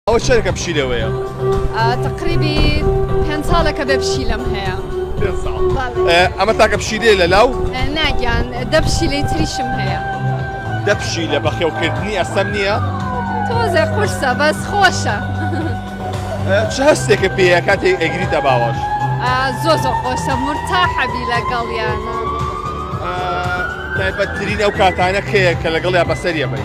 ئەوە چەنێکە پشیلەوەیە؟ تقریبی پێنج ساڵێکە بێ پشیلەم هەیە ئەمە تاکە پشیلێ لە لاو ناگیان دە پشیلەی تریشم هەیە دە پشیلە بەخێوکردنی ئەسەم نییە تۆزێ قورسە بەس خۆشە چ هەستێکە پێە کاتێک ئەگریتە باوەش زۆ زۆ خۆشە مرتا حەبی لەگەڵیانە تایبەتترین ئەو کاتانە کەیە کە لەگەڵ یا بەسەریە بی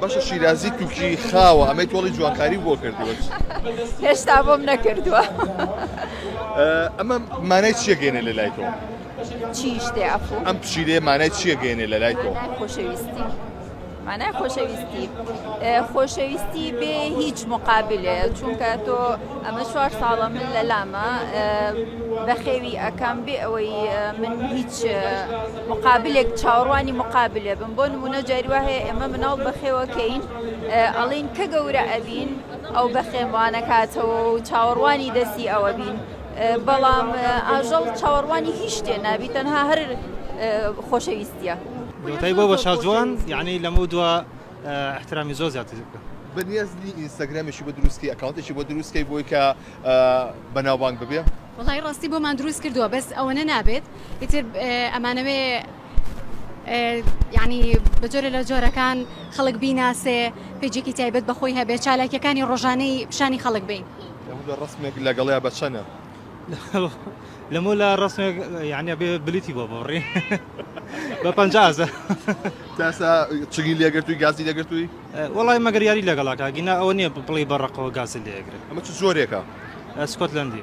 باشە شیرازی توکی خاوە ئەمەی تۆڵی جوانکاری بۆ کردوە هێشتا بۆم نەکردووە ئەمە مانای چیەگەێنە لە لای تۆ چیشتێ ئەفو ئەم پشیرێ مانای چیەگەێنێ لە لای تۆ خۆشەویستی مانای خۆشەویستی خۆشەویستی بێ هیچ مقابلێ چونکە تۆ ئەمە چوار ساڵە من لە لامە بەخێوی ئەکەم بێ ئەوەی من هیچ مقابلێک چاوەڕوانی مقابلێ بن بۆ نمونە جاری وا هەیە ئێمە مناڵ بەخێوەکەین ئەڵین کە گەورە ئەبین ئەو بەخێمانەکاتەوە و چاوەڕوانی دەستی ئەوە بین بەڵام ئاژەڵ چاوەڕوانی هیچ شتێ نابی تەنها هەر خۆشەویستە دوتای بۆ بە شازوان یعنی لەمە دوا احترامی زۆر زیاتر بکە بەنیازنی ئینستاگرامێکی بۆ دروستکەی ئەکاونتێکی بۆ دروستکەی بۆی کە بەناوبانگ ببێ وەڵایی ڕاستی بۆمان دروست کردووە بەس ئەوەنە نابێت ئیتر ئەمانەوێ یعنی بە جۆرە لە جۆرەکان خەڵک بیناسێ پێجێکی تایبەت بەخۆی هەبێ چالاکیەکانی ڕۆژانەی پیشانی خەڵک بین ڕسمێک لەگەڵیا بەچەنە لەمە لە ڕسمێک یعنی بێ بلیتی بۆ بڕی بە پزە تاسا چگی لێگرتووی گازی لەگرتووی وڵی مەگەر یاری لەگەڵاکە گینا ئەوە نیە بڵی بە ڕقەوە گازی لێگرێت ئەمە چ زۆرێکە سکۆتلەندی.